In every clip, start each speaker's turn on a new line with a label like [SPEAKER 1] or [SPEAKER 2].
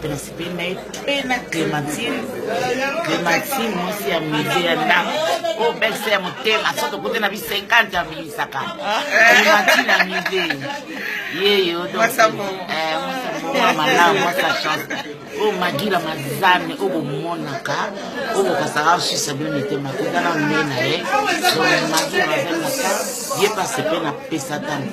[SPEAKER 1] principe na ye mpe na clémentine clémentine mwasi ya musée ya ndako oyo belse ya motema so tokote na bi 50 abimisaka clémentine ya musée yeyo mwa malamu mwasa chance oyo magila mazame oyo bomonaka oyo bokasaka osisa bino mitema kotala nde na ye so magila mazame na ka ye pase mpe na pesa ntango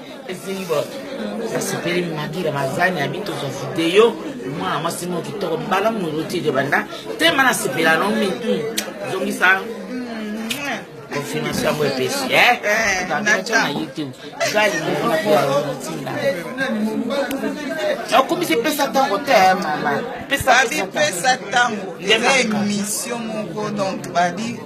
[SPEAKER 1] Zimbot nasepeli magira mazani ya bitozo video mwana mwasi moko kitoko bala molotide banda tema nasepela no mi hmm, zongisa hmm, confirmation yango epesi eh? eh, nayo na youtube gali monatinda okumisi pesa ntango te eh, mama pesa ntango eza emission moko donc badi